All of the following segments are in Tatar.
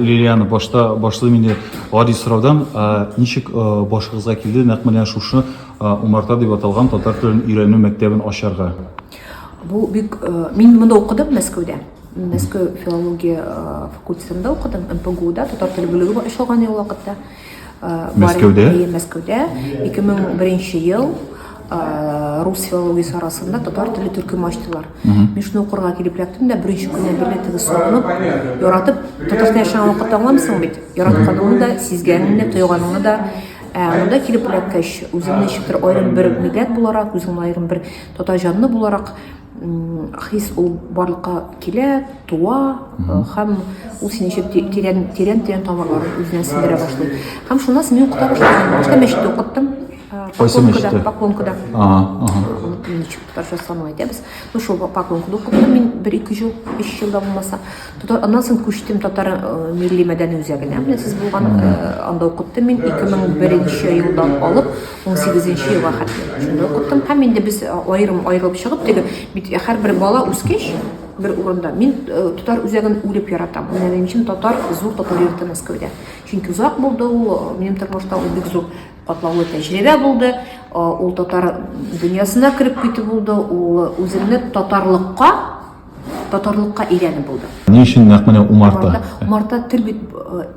Лилияны башта башлыйм инде гади сораудан. Ничек башыгызга килде нәкъ менә шушы Умарта дип аталган татар телен өйрәнү мәктәбен ачарга? Бу бик мин монда укыдым Мәскәүдә. Мәскәү филология факультетында укыдым, МПГУда татар теле бүлеге бар ачылган ул вакытта. Мәскәүдә? Әйе, Мәскәүдә. 2001 ел рус филологиясе арасында татар теле төркем ачтылар. Мин шуны укырга килеп эләктем дә, беренче көнне белә теге сагынып, яратып, татарстан яшәгән вакытта аңламсың бит, яратканыңны да, сизгәнеңне дә, тойганыңны да Монда килеп эләккәч, үземне ничектер аерым бер милләт буларак, үземне аерым бер татар җанны буларак хис ул барлыкка килә, туа һәм ул сине ничек тирән тирән тирән тамырларын үзенә сеңдерә башлый. Һәм шуннан син укыта башлыйсың. Башта мәчеттә укыттым. Кайсы мәчеттә? Поклонкада. Ничек татарча санау әйтәбез. Ну шул поклонкада укыттым мин бер ике жыл, өч жыл да булмаса. Татар аннан соң күчтем татар милли мәдәни үзәгенә. Менә сез булган анда укыттым мин 2001 елдан алып. 18 нче елга хәтле шунда укыттым һәм инде без э, аерым аерылып чыгып теге бит э, һәрбер бала үскәч бер урында мин э, татар үзәген үлеп яратам менә минем өчен татар зур татар йорты мәскәүдә чөнки озак булды ул минем тормышта ул бик зур катлаулы тәҗрибә булды ул татар дөньясына кереп китү булды ул үземне татарлыкка татарлыкка өйрәнү булды ни өчен нәкъ менә умарта умарта тел бит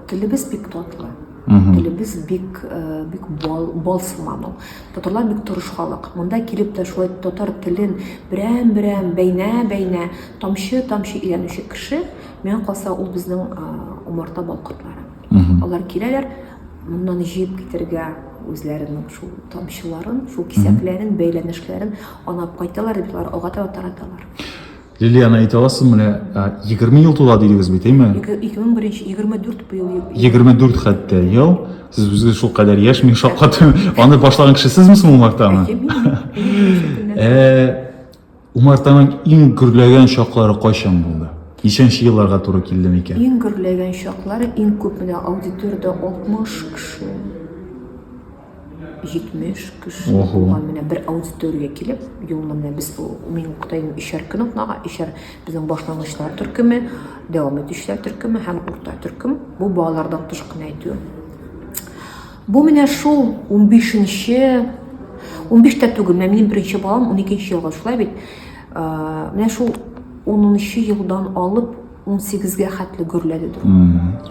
телебез бик татлы Телебез бик э, бик бал, бал сыман ул. Татарлар бик тырыш халык. Монда килеп тә шулай татар телен берәм-берәм бәйнә-бәйнә тамчы-тамчы өйрәнүче кеше, миңа калса ул безнең э, умарта балкортлары. Алар киләләр, моннан җыеп китергә үзләренең шул тамчыларын, шул кисәкләрен, бәйләнешләрен анап кайталар, дип алар ага тараталар. Лилиана, әйтә аласыз, менә 20 ел тула дидегез бит, әйме? 2001 24 быел. 24 хәтта ел. Сез үзегез шул кадәр яшь, мин шаккат. Аны башлаган кеше сезме соң Умартаны? Э, Умартаның иң гөрләгән чаклары кайчан булды? Ничәнче елларга туры килде микән? Иң гөрләгән чаклары иң күп менә аудиториядә 60 кеше. 70 кеше Ого. булган менә бер аудиториягә килеп, юлны менә без ул- мин укытайм өчәр көн укнага, өчәр безнең башлангычлар төркеме, дәвам итүчеләр төркеме һәм урта төркем. Бу балалардан тыш кына әйтү. Бу менә шул 15-нче 15 тә түгел, менә минем беренче балам 12-нче елга шулай бит. Э, Менә шул 10-нчы елдан алып 18-гә хәтле гөрләде ду.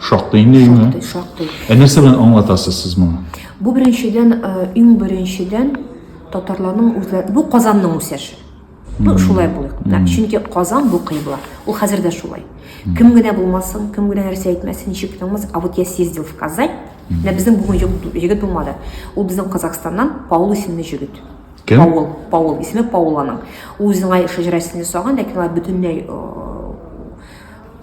Шактый инде өйме? Шактый, шактый. Ә нәрсә белән аңлатасыз сез моны? Бу беренчедән, э, иң беренчедән татарларның үзләре, бу Казанның үсеше. Бу шулай булыр. Да, чөнки Казан бу кыйбла. Ул хәзер дә шулай. Кем генә булмасын, кем генә нәрсә әйтмәсен, ничек кенә булмасын, а вот я съездил в Казань, менә безнең бүген егет булмады. Ул безнең Казахстаннан Паул исемле җегет. Кем? Паул, Паул, исеме Паул аның. Ул үзенең ай шәҗәрәсен ясаган, ләкин алар бөтенләй э,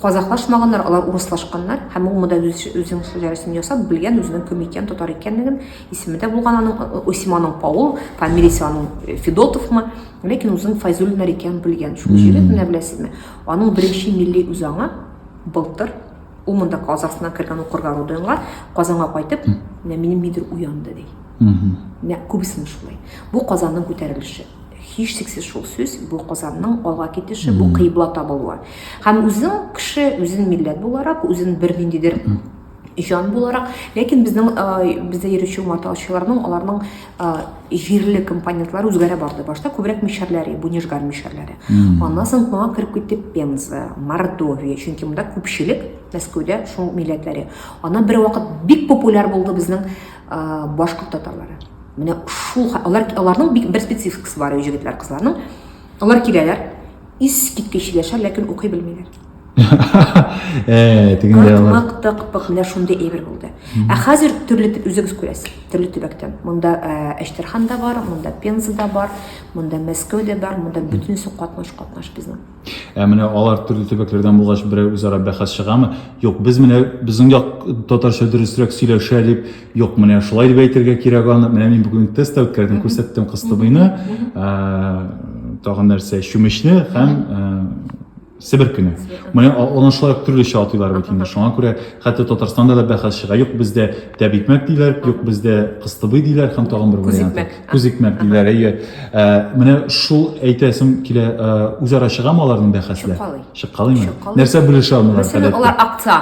казахлашмаганнар, алар урыслашканнар һәм ул монда үз, үзенең шәҗәрәсен ясап белгән, үзенең кем икән, татар икәнлеген, исеме дә булган аның, э, э, исеме аның Паул, фамилиясе аның э, Федотовмы, ләкин үзенең Файзуллиннар икәнен белгән. Шул җире менә беләсезме? Аның беренче милли үзаңы былтыр Ул монда Казахстана кергән укырга Руденга, Казанга кайтып, менә минем мидер уянды ди. Менә күбесен шулай. Бу Казанның күтәрелеше. Һич шиксез шул сүз, бу Казанның алга китеше, бу кыйбла табылуы. Һәм үзең кеше, үзен милләт буларак, үзен бер ниндидер җан буларак, ләкин безнең бездә йөрүче маталчыларның, аларның җирле компонентлар үзгәрә барды башта күбрәк мишәрләре бунежгар мишәрләре аннан соң моңа кереп китте пенза мордовия чөнки монда күпчелек мәскәүдә шул милләтләре аннан бер вакыт бик популяр булды безнең башкорт татарлары менә шул алар аларның бер спецификасы бар җегетләр кызларның алар киләләр искиткеч сөйләшә ләкин укый белмиләр Э, тегендә бар. Мак токпык менә шундый әйбер булды. Ә хәзер төрле үзегез күрәсез, төрле төбәктән. Монда э, Әштерхан да бар, монда Пенза да бар, монда Мәскәү дә бар, монда бөтенесе катнаш катнаш безнең. Ә менә алар төрле төбәкләрдән булгач берәр үзара бәхәс чыгамы? Юк, без менә безнең як татарча дөресрәк сөйләшә дип, юк, менә шулай дип әйтергә кирәк аны. Менә мин бүген тест үткәрдем, күрсәттем кыстыбыйны, э, тагын нәрсә, чүмечне һәм Себеркене. Моны аны шулай ук төрлечә атыйлар бит инде. Шуңа күрә хәтта Татарстанда да бәхәс чыга. Юк бездә тәбикмәк диләр, юк бездә кыстыбый диләр һәм тагын бер вариант. Күзикмәк диләр. Әйе. Менә шул әйтәсем килә, үзара чыгамы аларның бәхәсләр? Чыккалый. Чыккалыймы? Нәрсә белешә алмыйлар? Мәсәлән, алар акца.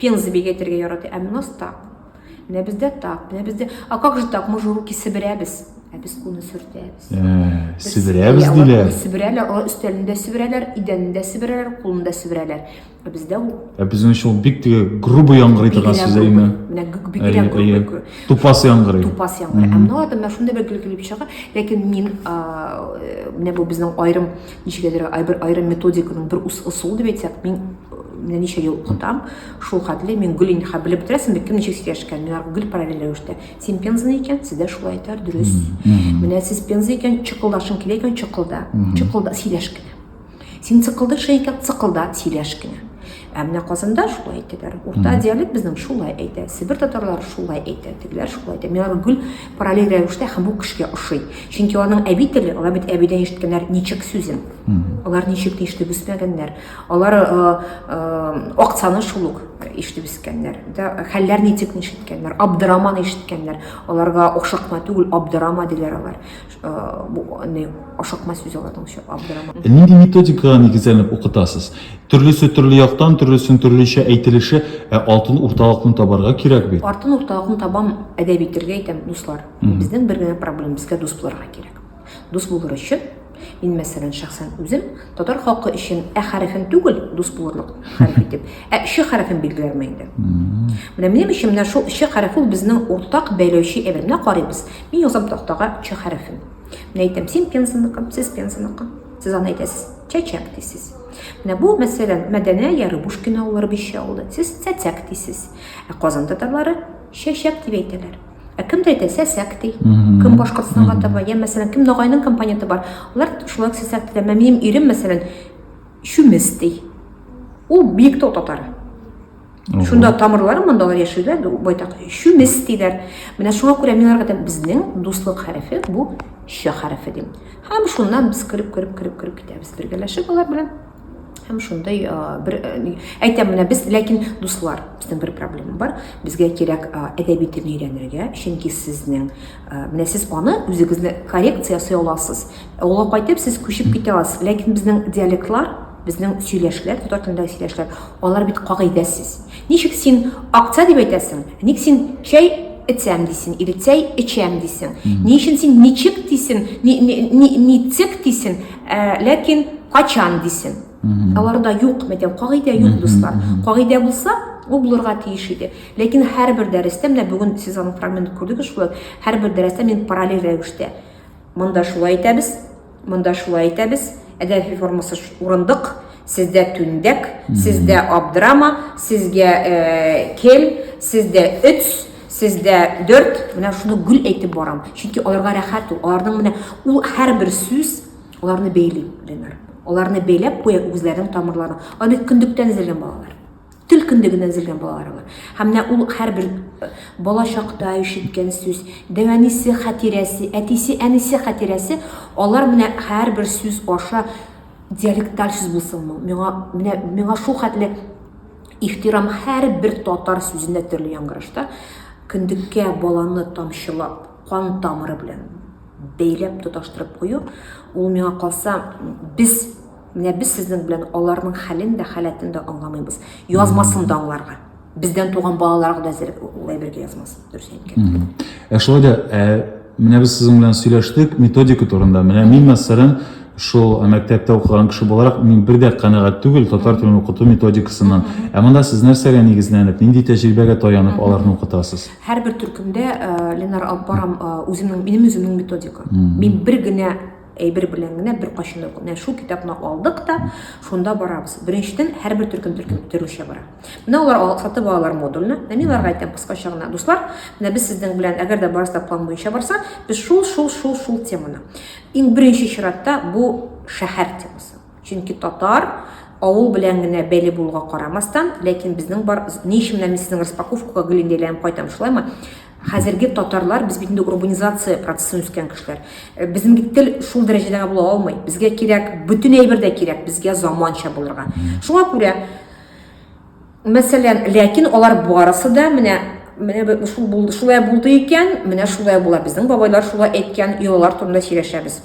Пенза бик әйтергә ярата, әмма нас так. Менә бездә так, менә бездә. А как же так? Мы же руки сиберәбез. Ә без куны сөртәбез. Ә, сиберәбез диләр. Сиберәләр, алар өстәлендә сиберәләр, идәнендә сиберәләр, кулында сиберәләр. Ә бездә ул. Ә безнең өчен ул бик теге грубый яңгырый торган сүз әйме? Менә бигрәк грубый. Тупас яңгырый. Тупас яңгырый. Ә мына да менә шундый бер килеп чыга. Ләкин мин менә бу безнең аерым Ничек әйтергә, айбер айрым методиканың бер ус ысулы дип әйтсәк, мин менә ничә ел укытам, шул хәтле мин гөл инде хәзер белеп бетерәсең бит, кем ничек сөйләшкән, мин аларга гөл параллель рәвештә. Син пензаны икән, сездә шулай әйтәр, дөрес. Менә сез пенза икән, чыкылдашың килә икән, чыкылда. Чыкылда, сөйләш кенә. Син цыкылдыш икән, цыкылда, сөйләш кенә. Ә менә Казанда шулай әйтәләр. Урта диалект безнең шулай әйтә. Себер татарлары шулай әйтә, тегеләр шулай әйтә. Мин аны гүл параллель рәвештә һәм бу кешегә ошый. Чөнки аларның әби теле, алар бит әбидән ишеткәннәр ничек сүзен. Алар ничек ишетеп үсмәгәннәр. Алар э, э, акцаны шул ук ишетеп үскәннәр. Да, хәлләр ничек ишеткәннәр, абдырама ишеткәннәр. Аларга ошакма түгел, абдырама диләр алар. не ашыкма сүз алатың өчен абдырама. Нинди методикага нигезләнеп укытасыз? Төрлесе төрле яктан, төрлесен төрлечә әйтелеше, ә алтын урталыкны табарга кирәк бит. Артын урталыкны табам, әдәби телгә әйтәм, дуслар. Безнең бер генә проблем, безгә дус булырга кирәк. Дус булыр өчен Мин мәсәлән шәхсән үзем татар халкы өчен ә хәрефен түгел дус булырлык хәреф итеп, ә ш хәрефен билгеләрмен инде. Менә минем өчен менә шул ш хәрефе ул безнең уртак бәйләүче әйбер. Менә карыйбыз. Мин язам тактага ча хәрефен. Мин әйтәм, син пензаныкы, сез пензаныкы. Сез аны әйтәсез, чәчәк дисез. Менә бу, мәсәлән, Мәдәнә я Рыбушкин авыллары бишчә авылда. Сез цәцәк дисез. Ә Казан татарлары чәчәк дип әйтәләр. Ә кемдә әйтә сәсәк ди. Кем Башкортстанга таба, я мәсәлән, кем Ногайның компоненты бар. Алар шулай ук сәсәк диләр. Менә минем ирем, мәсәлән, чүмес ди. Ул биектау татары. Шунда тамырлар монда алар яшиләр, байтак чүмес диләр. Менә шуңа күрә мин аларга безнең дуслык хәрефе бу ш хәрефе дим. Һәм шуннан без кереп кереп кереп кереп китәбез бергәләшеп алар белән. Һәм шундай бер әйтәм менә без ләкин дуслар, безнең бер проблема бар. Безгә кирәк әдәби телне өйрәнергә, чөнки сезнең менә сез аны үзегезне коррекция ясый аласыз. Ә ул кайтып сез күчеп китә аласыз. Ләкин безнең диалектлар Безнең сөйләшләр, татар телендәге сөйләшләр, алар бит кагыйдәсез. Ничек син акция дип әйтәсең, ник син чәй эчәм дисең, или чәй эчәм дисең. Ни өчен син ничек дисең, ничек дисең, ә, ләкин качан дисең. Аларда юк, мәйтәм, кагыйдә юк, дуслар. Кагыйдә булса, ул булырга тиеш иде. Ләкин һәрбер дәрестә, менә бүген сез аның фрагментын күрдегез шулай, һәрбер дәрестә мин параллель рәвештә монда шулай әйтәбез, Монда шулай әйтәбез, әдәби формасы урындык, сездә түндәк, сездә абдрама, сезгә э, кел, сездә өц, сездә дөрт, менә шуны гүл әйтеп барам. Чөнки аларга рәхәт ул, аларның менә ул һәрбер сүз аларны бәйли, Ленар. Аларны бәйләп куя үзләренең тамырларын. Алар бит көндектән эзләнгән балалар. Тел көндә генә өзелгән балалары бар. Һәм менә ул һәрбер э, бала чакта ишеткән сүз, дәвәнисе хатирәсе, әтисе, әнисе хатирәсе, алар менә һәрбер сүз аша диалекталь сүз булсын бу. Миңа менә миңа шул хәтле ихтирам һәрбер татар сүзенә төрле яңгырашта көндеккә баланы тамчылап, кан тамыры белән бәйләп тоташтырып кую, ул миңа калса без Менә без сезнең белән аларның хәлен дә, халәтен дә аңламыйбыз. Язмасын да аңларга. Бездән туган балаларга да әзер улай бергә язмасын. Дөрес әйткән. Ә шулай да, ә, менә без сезнең белән сөйләштек методика турында. Менә мин, мәсәлән, шул мәктәптә укыган кеше буларак мин бер дә канәгать түгел татар телен укыту методикасыннан. Ә монда сез нәрсәгә нигезләнеп, нинди тәҗрибәгә таянып аларны укытасыз? Һәрбер төркемдә э, Ленар алып барам э, үземнең минем үземнең методика. Мин бер генә әйбер белән генә беркайчан да менә шул китапны алдык та шунда барабыз беренчедән һәрбер төркем төркем төрүчә бара менә алар сатып алалар модульны менә мин аларга әйтәм кыскача гына дуслар менә без сезнең белән әгәр дә барыста план буенча барса без шул шул шул шул теманы иң беренче чиратта бу шәһәр темасы чөнки татар авыл белән генә бәйле булуга карамастан ләкин безнең бар ни өчен менә мин сезнең распаковкага гелендәйләнеп кайтам шулаймы Хәзерге татарлар без бит инде урбанизация процессын үскән кешеләр. Э, безнең бит тел шул дәрәҗәдәге була алмый. Безгә кирәк, бөтен әйбер дә кирәк, безгә заманча булырга. Шуңа күрә мәсәлән, ләкин алар барысы да менә менә шул булды, шулай булды икән, менә шулай була. Безнең бабайлар шулай әйткән, йолалар турында сөйләшәбез.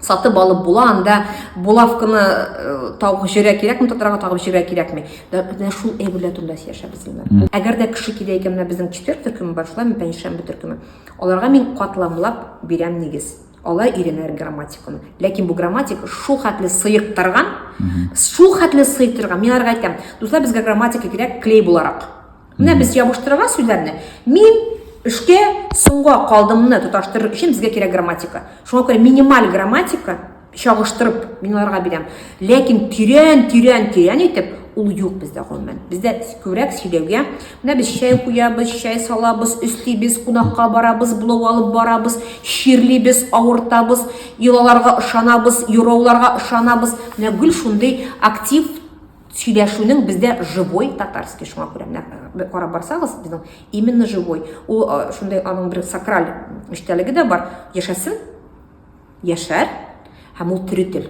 сатып алып була анда булавканы э, тагып җөрә кирәкме татарга тагып җөрә кирәкме менә шул әйберләр турында сөйләшә безнең әгәр дә кеше килә икән менә безнең четвер төркеме бар шулай пәнҗешәмбе төркеме аларга мин катламлап бирәм нигез алар өйрәнәләр грамматиканы ләкин бу грамматика шул хәтле сыектырган шул хәтле сыектырган мин аларга әйтәм дуслар безгә грамматика кирәк клей буларак Менә без ябыштырган сүзләрне мин эшкә соңга калдымны тоташтырыр өчен безгә кирәк грамматика. Шуңа күрә минималь грамматика чагыштырып мин аларга бирәм. Ләкин тирән, тирән, тирән итеп ул юк бездә гомумән. Бездә күбрәк сөйләүгә менә без чәй куябыз, чәй салабыз, өслибез, кунакка барабыз, блог алып барабыз, чирлибез, авыртабыз, йолаларга ышанабыз, юрауларга ышанабыз. Менә гүл шундый актив сөйләшүнең бездә живой татарский шуңа күрә менә карап барсагыз безнең именно живой ул шундый аның бер сакраль эчтәлеге дә бар яшәсен яшәр һәм ул тере тел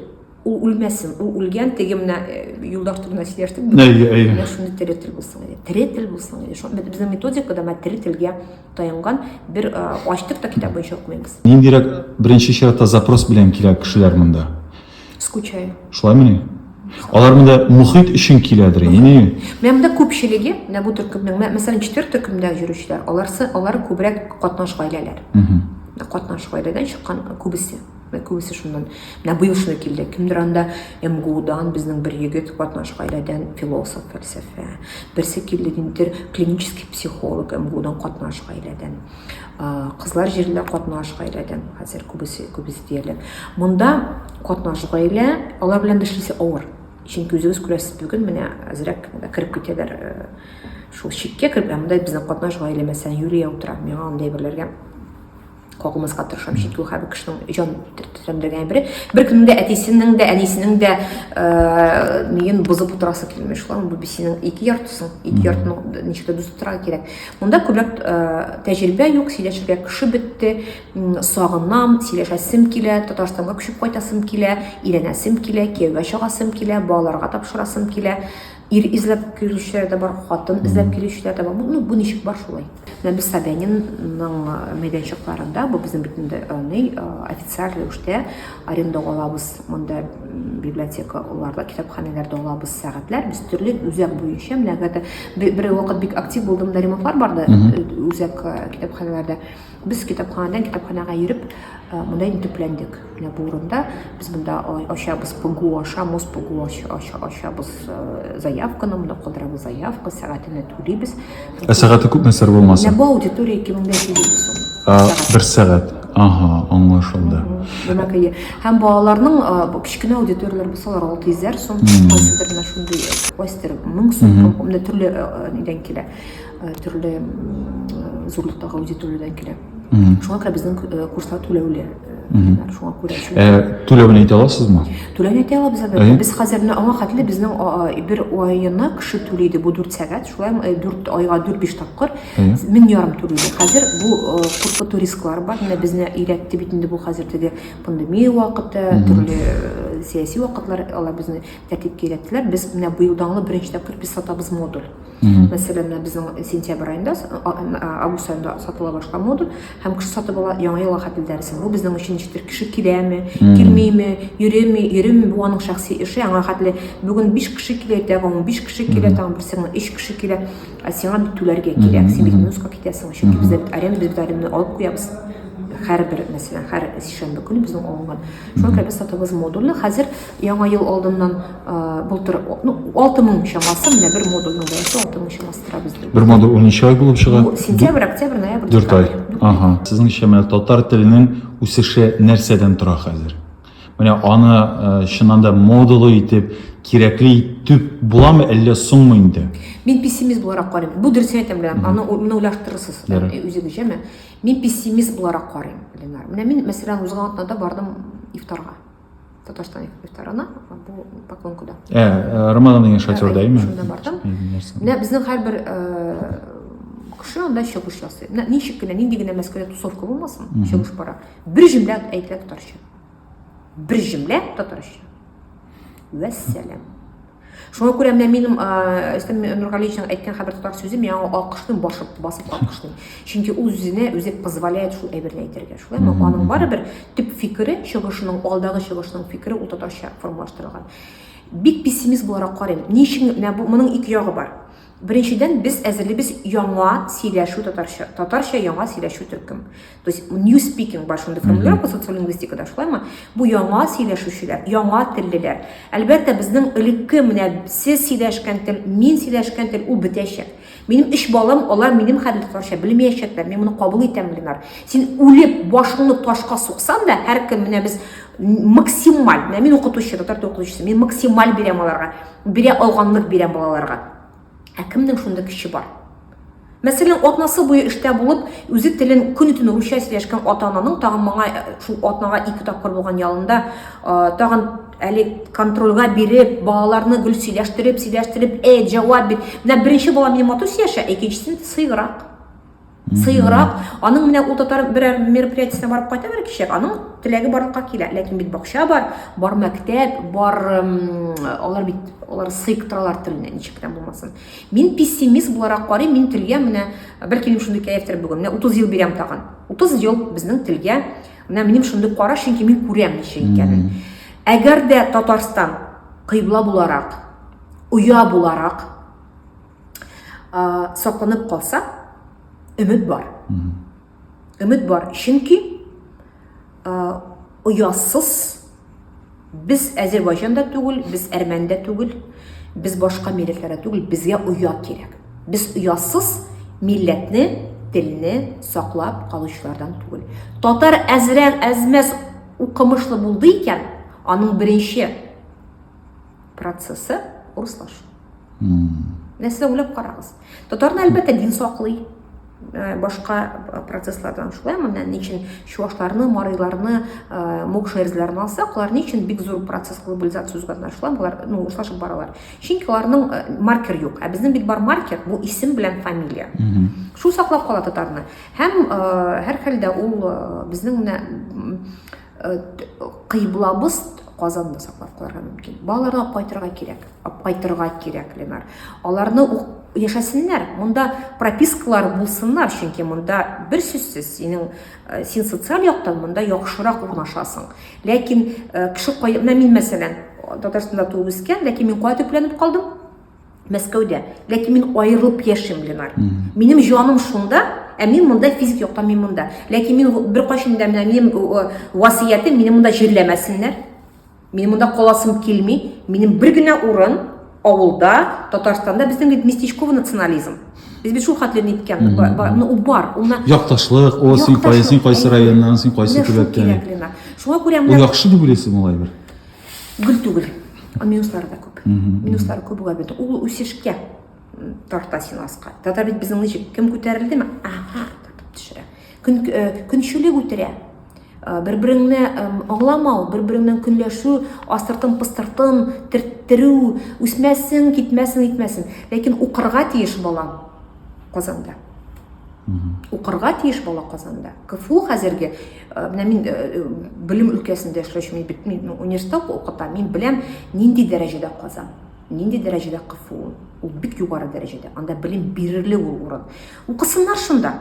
ул үлмәсен ул үлгән теге менә юлдаш турында сөйләштек менә шундый тере тел булсын иде тере тел булсын иде шул безнең методикада менә тере телгә таянған бер ачтык та китап буенча укымыйбыз ниндирәк беренче чиратта запрос белән килә кешеләр монда Скучаю. Шулай мени? Алар монда мөхит өчен киләдер инде. Менә монда күпчелеге, менә бу төркемнең, мәсәлән, четвер төркемдә йөрүчеләр, аларсы, алар күбрәк катнаш гаиләләр. Катнаш гаиләдән чыккан күбесе. Менә күбесе шуннан. Менә быел шуны килде. Кемдер анда МГУдан безнең бер егет катнаш гаиләдән философ, фәлсәфә. Берсе килде, димтер, клинический психолог МГУдан катнаш гаиләдән. кызлар җиренә катнаш гаиләдән хәзер күбесе күбесе диярлек монда катнаш гаилә алар белән эшлисе авыр чөнки үзегез күрәсез бүген менә әзрәк кереп китәләр э, шул чиккә кереп ә монда безнең катнаш гаилә мәсәлән юлия утыра миңа андый берләргә кагылмаска тырышам чөнки ул һәр кешенең җан тәмдәгән бер бер көннең дә әтисенең дә әнисенең дә э, миен бозып утырасы килми шулар бу синең ике яртысың ике яртының ничектер дус утырырга кирәк Монда күбрәк э, тәҗрибә юк, сөйләшергә кеше бетте, сагынам, сөйләшәсем килә, Татарстанга күчеп кайтасым килә, өйрәнәсем килә, кияүгә чыгасым килә, балаларга тапшырасым килә. Ир эзләп килүчеләр дә бар, хатын эзләп килүчеләр дә бар. Ну, бу ничек бар шулай. Менә без Собянинның э, мәйданчыкларында, бу безнең бит инде э, официаль рәвештә Арендага алабыз монда библиотека, оларда китапханәләрдә алабыз сәгатьләр. Без төрле үзәк буенча менә хәтер бер вакыт бик актив булдым да ремонтлар барды э, үзәк э, китапханәләрдә. Без китапханадан китапханага йөреп э, монда инде төпләндек. Менә бу урында без монда ачабыз ПГУ аша, мус ПГУ аша, аша, ачабыз заявканы, монда калдырабыз заявка, сәгатенә түлибез. Ә сәгате күпме сер булмаса? Менә бу аудитория 2500 сум. Ә, бер сәгать. Ага, аңлашылды. Димәк, әйе. Һәм балаларның а, бу кечкенә аудиторияләр булсалар 600 сум, кайсыдыр менә шундый, кайсыдыр 1000 сум, һәм менә төрле а, а, нидән килә, а, төрле м, а, зурлыктагы аудиториядән килә. шуңа күрә безнең э, курслар түләүле шуңа күрә э, түләвен әйтә аласызмы түләүне әйтә алабыз әлбәттә без хәзер менә аңа хәтле безнең бер аена кеше түли иде бу дүрт сәгать шулай э, дүрт айга дүрт биш тапкыр мең ярым түли иде хәзер бу куркыту рисклары бар менә безне өйрәтте бит инде бу хәзер теге пандемия вакыты төрле сәяси вакытлар алар безне тәртипкә өйрәттеләр без менә быел даңлы беренче тапкыр без сатабыз модуль Мхм. Мәсәлән, менә безнең сентябрь аенда, с- а- м, а, август аенда сатыла башка мода һәм кеше сатып ала яңа елга хәтле дәресен. Бу безнең өчен ничектер кеше киләме, Мгм. килмиме, йөрими, йөрими, бу аның шәхси эше, аңа хәтле бүген 5 кеше килә, иртәгә 15 кеше килә, Мгм. тагын берсенә 3 кеше килә. Ә сиңа бит түләргә кирәк, Мгм, син бит мгм. минуска китәсең, чөнки Мгм. бездә бит аренда бит аренданы алып куябыз. Һәрбер, мәсәлән, һәр сишәмбе көне безнең алынган. Шуңа күрә без сатабыз модульле. Хәзер яңа ел алдыннан былтыр ну алты мың чамасы менә бер модульның бәясе алты мың чамасы тора бездә бер модуль он ай булып чыга сентябрь октябрь ноябрь дүрт ай ага сезнеңчә менә татар теленең үсеше нәрсәдән тора хәзер менә аны э, чыннан да модулы итеп кирәкле итеп буламы әллә соңмы инде мин пессимист буларак карыйм бу дөрес әйтәм белән аны менә уйлаштырырсыз үзегезчә мә мин пессимист буларак карыйм ленар менә мин мәсәлән узган атнада бардым ифтарга Татарстан ифтарына, бу поклонкада. Ә, Рамазан дигән шатер дәйме? Шунда бардым. Менә безнең һәрбер кеше анда чыгыш ясый. Менә ничек кенә, нинди генә мәскәүдә тусовка булмасын, чыгыш бара. Бер җөмлә әйтелә татарча. Бер җөмлә татарча. Вәссәлам. Шуңа күрә менә минем Рөстәм Нургалиевичның әйткән хәбәр тотар сүзе миңа алкышны басып басып алкышны. Чөнки үзенә үзе позволяет шул әйберне әйтергә. Шулай ма аның барыбер төп фикере, чыгышының алдагы чыгышының фикере ул татарча формалаштырылган. Бик пессимист буларак карыйм. Ни өчен менә бу моның ике ягы бар. Беренчедән, без әзерлибез яңа сөйләшү татарча, татарча яңа сөйләшү төркем. То есть new speaking бар шундый формулировка социолингвистикада шулаймы? Бу яңа сөйләшүчеләр, яңа теллеләр. Әлбәттә, безнең элекке менә сез сөйләшкән тел, мин сөйләшкән тел ул бетәчәк. Минем үч балам, алар минем хәлне татарча белмәячәкләр. Мин моны кабул итәм, Ленар. Син үлеп башыңны ташка суксан да, һәркем менә без максималь, менә мин укытучы, татар тел укытучысы, мин максималь бирәм аларга. Бирә алганлык бирәм балаларга. Ә кемнең шундый көче бар? Мәсәлән, атнасы буе эштә булып, үзе телен көн-төн русча сөйләшкән ата-ананың тагын моңа э, шул атнага ике тапкыр булган ялында э, тагын әле контрольга биреп, балаларны гел сөйләштереп, сөйләштереп, э, җавап бир. Менә беренче бала минем матур сөйләшә, икенчесен сыйграк. Сыйгырак, аның менә ул татар берәр мероприятиесенә барып кайта бер кеше, аның теләге барлыкка килә. Ләкин бит бакча бар, бар мәктәп, бар алар бит алар сыйк торалар теленә, ничек кенә булмасын. Мин пессимист буларак карыйм, мин телгә менә бер килем шундый кәефтер бүген. Менә 30 ел бирәм тагын. 30 ел безнең телгә менә минем шундый кара, чөнки мин күрәм ничек икәнен. Әгәр дә Татарстан кыйбла буларак, оя буларак сакланып калса өмет бар өмет бар чөнки оясыз без әзербайжанда түгел без әрмәндә түгел без башка милләтләрдә түгел безгә оя кирәк без оясыз милләтне телне саклап калучылардан түгел татар әзрәк әзмәс укымышлы булды икән аның беренче процессы урыслашу нәрсә уйлап карагыз татарны әлбәттә дин саклый э, башка э, процесслардан шулай менә ни өчен чувашларны мариларны э, мокша эрләрне алсак алар ни өчен бик зур процесс глобализация үзгәртә шулай алар ну урыслашып баралар чөнки аларның маркер юк ә безнең бит бар маркер бу исем белән фамилия шул саклап кала татарны һәм һәрхәлдә ул безнең менә кыйблабыз Казанны саклап калырга мөмкин. Балаларга кайтырга кирәк, кайтырга кирәк, Ленар. Аларны яшәсеннәр, монда пропискалар булсыннар, чөнки монда бер сүзсез синең э, син социаль яктан монда яхшырак урнашасың. Ләкин э, кеше кай, мин мәсәлән, Татарстанда туып үскән, ләкин мин кая төпләнеп калдым? Мәскәүдә. Ләкин мин аерылып яшим, Ленар. Минем җаным шунда, ә мин монда физик яктан мин монда. Ләкин мин беркайчан да менә минем васыятем мине монда җирләмәсеннәр. Минем монда каласым килми. Минем бер генә урын авылда, Татарстанда безнең бит местечковый национализм. Без бит шул хәтле ниткән, ну бар. Уна якташлык, о син кайсы, син кайсы районнан, син кайсы төбәктән. Шуңа күрә менә. Яхшы дип уйлыйсың алай бер. гел түгел минуслары да күп минуслары күп була бит ул үсешкә тарта син аска тата бит безнең ничек кем күтәрелдеме ага тартып төшерә көн э, көнчелек үтерә э, бер береңне аңламау бер береңнән көнләшү астыртын пыстыртын төрттерү үсмәсен китмәсен итмәсен ләкин укырга тиеш балам казанда Укырга тиеш бала Казанда. КФУ хәзерге, э, менә мин э, э, белем өлкәсендә эшләүче, мин бит мин университетта укытам, мин беләм, нинди дәрәҗәдә Казан, нинди дәрәҗәдә КФУ. Ул бик югары дәрәҗәдә. Анда белем бирерле ул урын. Укысыннар шунда.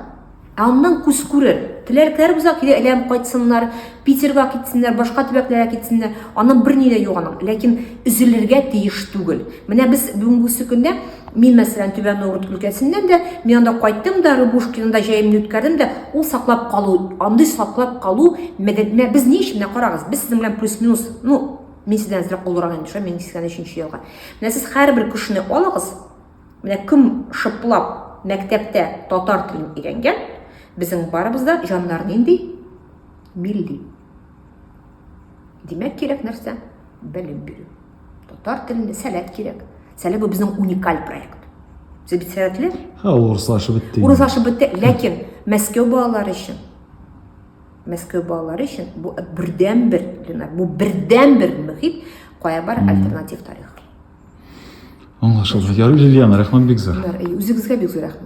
Ә аннан күз күрер. Теләкләр бузак килә, әйләнеп кайтсыннар. Питерга китсеннәр, башка төбәкләргә китсеннәр, аның берни дә юк аның, ләкин өзелергә тиеш түгел. Менә без бүгенге көндә мин мәсәлән Түбән Новгород өлкәсеннән дә, мин анда кайттым да, Рыбушкинда җәемне үткәрдем дә, ул саклап калу, андый саклап калу мәдәтенә без ни өчен? Менә карагыз, без сезнең белән плюс-минус, ну, мин сездән әзрәк олырак инде, шулай мин 83 елга. Менә сез һәрбер кешене алыгыз, менә кем шыплап мәктәптә татар телен өйрәнгән, безнең барыбыз да җаннар нинди Милли. Димәк кирәк нәрсә? Белем бирү. Татар телендә сәләт кирәк. Сәләт бу безнең уникаль проект. Сез бит сәләтле? Ха, урыслашып бетте. Урыслашып бетте, ләкин Мәскәү балалары өчен Мәскәү балалары өчен бу бердән бер, Ленар, бу бердән бер мөхит, кая бар альтернатив тарих. Аңлашылды. Ярый, Лилиана, рәхмәт бик зур. Үзегезгә бик зур рәхмәт.